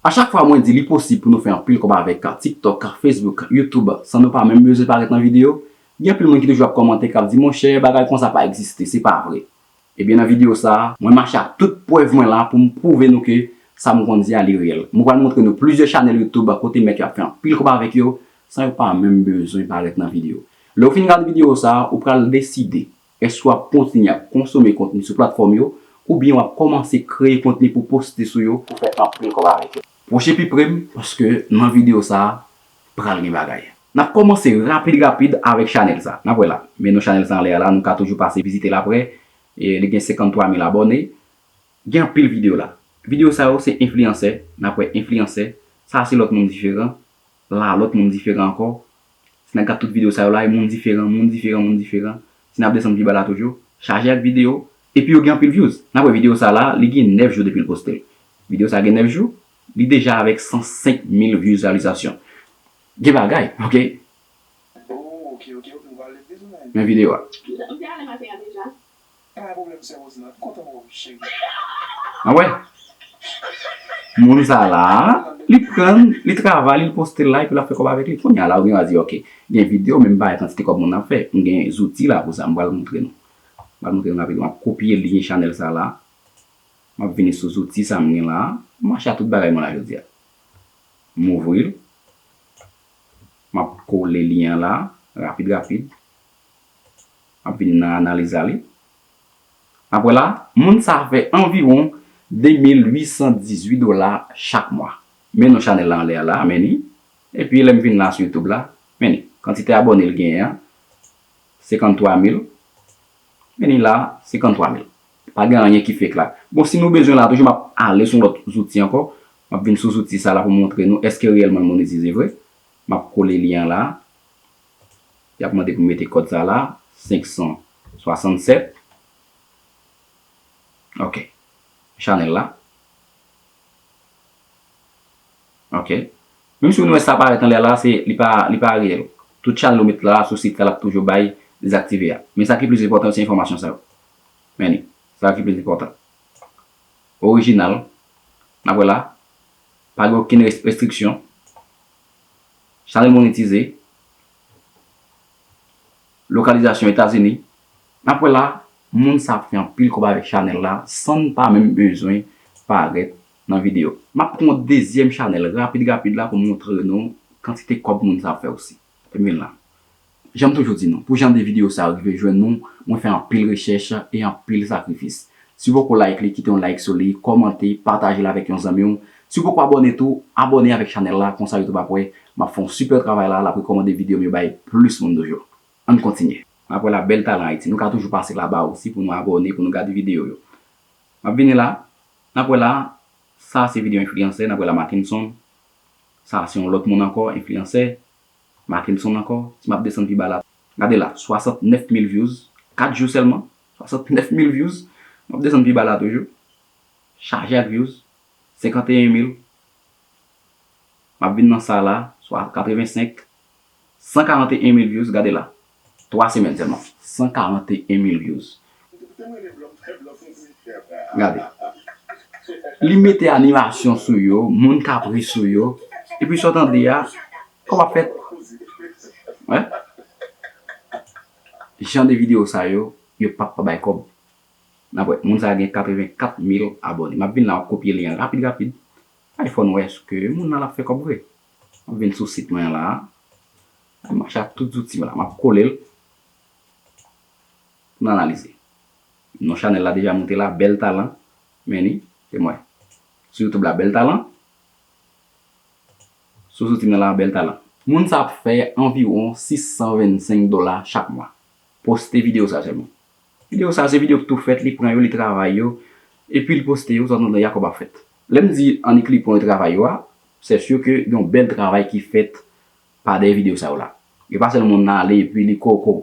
A chak fwa mwen di li posib pou nou fè anpil kòb avèk TikTok, Facebook, YouTube san nou pa menm bezwen parèt nan videyo, gen anpil moun ki toujou ap kòmante kap di monchè bagay konsa pa egziste, se pa vre. Ebyen nan videyo sa, mwen mache ak tout prèv mwen la poum pwouve nou ke sa mwen konn di a li reyèl. Mwen pral montre nou plizyè chanèl YouTube kote mèt yo ap fè anpil kòb avèk yo san yo pa menm bezwen parèt nan videyo. Lèw fin gad videyo sa, ou pral deside Èske w ap kontinye ap konsome kontni sou platfòm yo oubyen w ap kòmanse kreye kontni pou poste sou yo pou fè anpil kòb avèk yo? Pwoche pi pre m paske nan videyo sa a pral gen bagay. N ap kòmanse rapid rapid avèk chanèl sa. N ap wè la. Men non chanèl sa anlè a la, nou ka toujou pase vizite l aprè. Li gen 53 mil abòne. Gen anpil videyo la. Videyo sa yo se enfliyansè. N ap wè enfliyansè. Sa a se lòt moun diferan. la lòt moun diferan ankò si nap gad tout video sa yo la e moun diferan moun diferan moun diferan si nap desann pi ba la toujou chaje ak video epi yo gen anpil vyouz nap wè video sa la li gen 9 jou depil poste video sa gen 9 jou li deja avèk 105 mil vyouz reyalizasyon gen bagay ok. Ohh ok ok ok m pral leve sou sa. Men video a. M te ale maten an deja. Pa gen problème sè Rose nan kontan wè w chérie. Ah wè Moun sa la Li prann Li travay li postel la epi lap fè kòb avèk li kounya la ou genwa di ok gen video men m pa wè kantite kòb moun nan ap fè m gen zouti la pou sa m pral moutre nou m pral moutre nou rapid map kopye lyen chanèl sa la map vini sou zouti sa m gen la m mache a tout bagay mwen la jodia m ouvri l map kole lyen an la rapid rapid Anpil nan analiz la li. Apre la, moun sa fè anviwon 2818 dola chak mwa. Men non chanèl la anlè a la, men li. Epi lè m vin la sou youtube la, men li. Kantite abòne li genyen an, 53 mil. Men li la, 53 mil. Pa gen anyen ki fake la. Bon, si nou bezwen la toujou m ap ale sou yon lòt zouti ankò. M ap vin sou zouti sa la pou m montre nou èske reyèlman l monetize vre. M ap kole lyen an la. Y ap mande pou mete kòd sa la, 567. Ok. Chanèl la. Ok. Menm si ou nou wè sa parèt anlè la, se li pa li pa reyèl. Tout chanèl ou met la sou sit la l ap toujou bay dezaktive a. Men sa ki plis enpòtan yo se enfòmasyon sa yo. Men li. Sa ki plis enpòtan. Orijinal. N ap wè la. Pa gen okenn restriksyon. Chanèl monetize. Lokalizasyon etazini. Nap wè la moun sa ap fè anpil kob avèk chanèl la sann pa menm bezwen parèt nan video. Map pran yon dezyèm chanèl rapid rapid la pou moutre nou kantite kob moun sa ap fè osi. Fèm vin la. Jan m toujou di nou, pou jan de videyo sa yo rive jwenn nou, mwen fè anpil rechèch e anpil sakrifis. Si w poko like li, kite yon like sou li, kòmante, pataje l avèk yon zanmi w. Si w poko abòne tou, abòne avèk chanèl la, konsa YouTube ap wè m ap fè yon sipè travay la, l ap rekòmande videyo m yo bay plis moun toujou. Ann kontinye! M ap wè la bèl talan Ayiti. Nou ka toujou pase la ba osi pou nou abòne, pou nou gade videyo yo. M ap vini la. N ap wè la. Sa a se videyo enfliyansè. N ap wè la Mackenson. Sa a se yon lòt moun ankò, enfliyansè. Mackenson ankò si map desann pi ba la gade la 69 mil vyouz 4 jou sèlman 69 mil vyouz map desann pi ba la toujou chaje ak vyouz 51 mil map vin nan sa la 85 141 mil vyouz gade la 3 semèn sèlman 141 mil vyouz gade li mete animasyon sou yo moun kap ri sou yo epi sa w tande a kòb ap fèt jan de video sa yo yo pap pa bay kòb moun sa gen 84 mil abòne map vin la map kopye li an rapid rapid fò n wè èske moun nan ap fè kòb vre mwen vin sou sit mwen an la. Map mache ak tout zouti m la map kole l pou n analize. Non chanèl la deja moute la bèl talan men li se mwen sou youtube la bèl talan sou zouti mwen la bèl talan. Moun sa ap fè anviwon 625 dola chak mwa. Poste videyo sa sèlman. Videyo sa se videyo k tou fèt li pran yo li travay yo epi li poste yo tanzantan ya kòb ap fèt. Lè m di annik li pran yo travay yo a sè sur ke yon bèl travay ki fèt pa dèyè video sa yo la. E pa sèlman moun nan ale epi li koko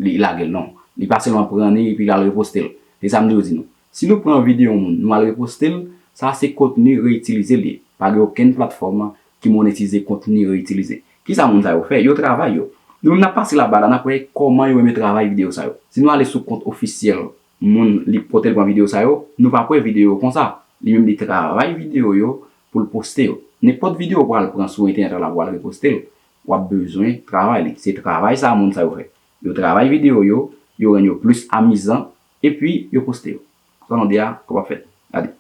li lage l non. Li pa sèlman pran li epi l al reposte l. Se sa m toujou di nou. Si nou pran video yon moun nou al reposte l, sa se kontni reyitilize l ye. Pa gen okenn platfòm ki monetize kontni reyitilize. Kisa moun sa yo fè? Yo travay yo. Nou menm n ap pase laba la n ap wè kòman yo menm yo travay video sa yo. Si nou ale sou kont ofisyèl moun li potel pran video sa yo nou pa pwe video konsa li menm li travay video yo poul poste yo nenpot video ou pral pran sou entènèt la wal repostel wap bezwen travay li se travay sa moun sa yo fè yo travay video yo yo rann yo plis amizan epi yo poste yo sa nou di a kòb ap fèt gade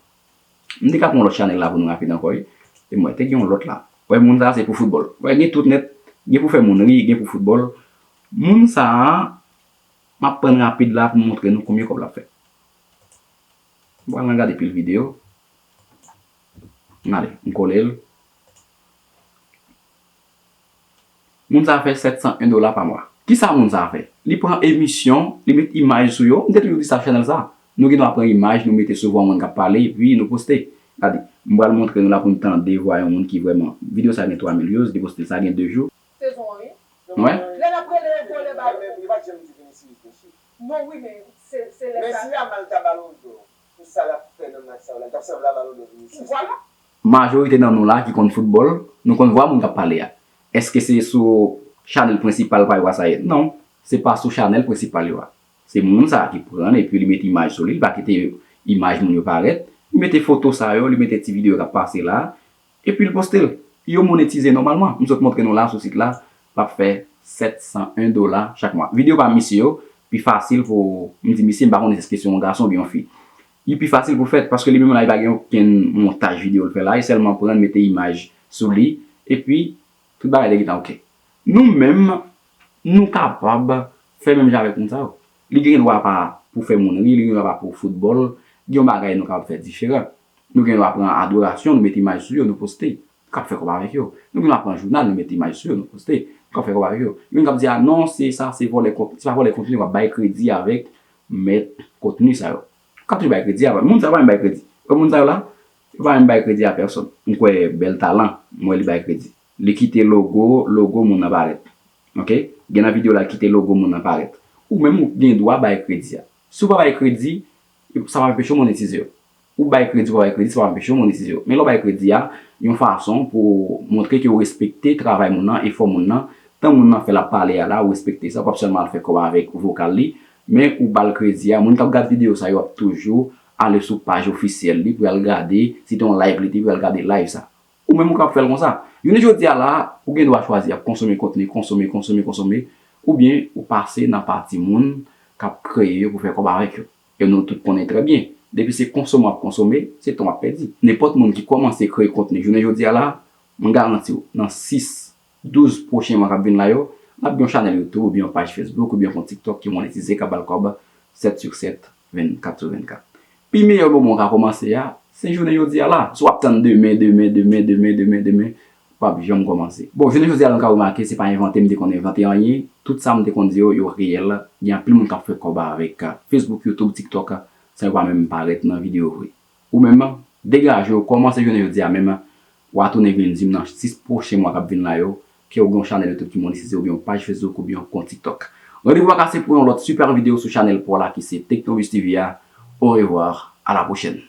m te ka pran lòt chanèl la pou nou rapid ankò wi e mwen te gen yon lòt la wè moun sa se pou foutbòl wè gen tout nèt gen pou fè moun ri gen pou foutbòl moun sa Map prann rapid la poum montre nou konbyen kob lap fè. M pran nan gade pil video. M ale m kole l. Moun sa fè 701 dola pa mwa. Kisa moun sa fè? Li pran emisyon, li met imaj sou yo. M te toujou di sa chanèl sa. Nou gen dwa pran imaj nou mete sou vwa moun kap pale epi nou poste. Gade, m pral montre nou la pou nou tande vwa yon moun ki vrèman. Video sa gen 3000 views, li poste sa gen 2 jou. Sezon 1 wi. Mwen. Lè nap rele yon vòlè ba yo. Yo pat janm di Vinicius mesye. Non wi men se se lè sa. Messi Yamal ta balon dò pou sa lap fè nan match sa yo la li tap sanble a balon dò Vinicius. Vwala. Majorite nan nou la ki konn foutbòl, nou konn vwa moun kap pale a. Eske se sou chanèl prensipal pa yo a sa ye? Non, se pa sou chanèl prensipal yo a. Se moun sa ki pranl epi li mete imaj sou li, li pa kite imaj moun yo parèt, li mete foto sa yo, li mete ti videyo kap pase la, Epi l poste l. Yo monetize nòmalman. M sot montre nou la sou sit la, l ap fè 701 dola chak mwa. Videyo pa misye yo pi fasil pou, m di misye m pa konnen èske se yon gason oubyen yon fi. Li pi fasil pou fèt paske li menm la li pa gen okenn montaj videyo l fè la, li sèlman pran l mete imaj sou li epi tout bagay te gentan ok. Nou menm nou kapab fè menm jan avèk moun sa yo. Li gen dwa pa pou fè moun ri, li gen dwa pa pou foutbòl, gen yon bagay nou kapab fè diferan. Nou gen dwa pran adorasyon, nou mete imaj sou yo, nou poste, nou kab fè kòb avèk yo. Nou gen dwa pran jounal, nou mete imaj sou yo, nou poste, nou kab fè kòb avèk yo. Gen moun kab di a non se sa se vòlè kontni, se pa vòlè kontni, wap bay kredi avèk mèt kontni sa yo. Ou kab toujou bay kredi avèk, moun sa yo pa menm bay kredi. Ou wè moun sa yo la, yo pa menm bay kredi a pèsòn. M kwè bèl talan, m wè li bay kredi. Li kite logo logo moun nan parèt ok gen nan video la kite logo moun nan parèt ou menm ou gen dwa bay kredi a si ou pa bay kredi sa pa anpeche w monetize yo ou bay kredi ou pa bay kredi sa pa anpeche w monetize yo men lè w bay kredi a yon fason pou w montre ke ou respekte travay moun nan efò moun nan tan moun nan fè lap pale a la ou respekte sa ou pap sèlman al fè kòb avèk vokal li men ou bal kredi a moun kap gad video sa yo ap toujou ale sou paj ofisyèl li pou yal gade si te yon live li te pou yal gade live sa Ou menm ou kap fèl konsa. Jounen jodi a la a, ou gen dwa chwazi ap konsome kontni, konsome, konsome, konsome, oubyen ou pase nan pati moun kap kreye yo pou fè kòb avèk yo. E nou tout konnen trè byen, depi se konsome wap konsome, se tan wap pèdi. Nenpòt moun ki kòmanse kreye kontni jounen jodi a la a, mwen garanti w, nan 6 12 pwochen mwa k ap vin la yo, l ap gen yon chanèl YouTube oubyen yon paj Facebook oubyen yon kont TikTok ki monetize k ap ba l kòb 7 sur 7, 24 sur 24. Pi meyè moman w ka kòmanse a, se jounen jodi a la. Si w ap tann demen, demen, demen, demen, demen, demen, w p ap janm kòmanse. Bon, jounen jodi a nou ka remake se pa envante m te konn envante anyen, tout sa m te konn di yo, yo reyèl, gen anpil moun k ap fè kòb avèk Facebook, YouTube, TikTok san yo pa menm parèt nan videyo vre. Ou menm an, degaje w, kòmanse jounen jodi a menm an, wa tounen vin di m nan 6 pwochen mwa k ap vin la yo, ke w gen yon chanèl YouTube ki monetize oubyen yon paj Facebook oubyen yon kont TikTok. Randevou a kase pou yon lòt super video sou chanèl pa w la ki se Technobuzz TV a. Au revoir, à la prochaine!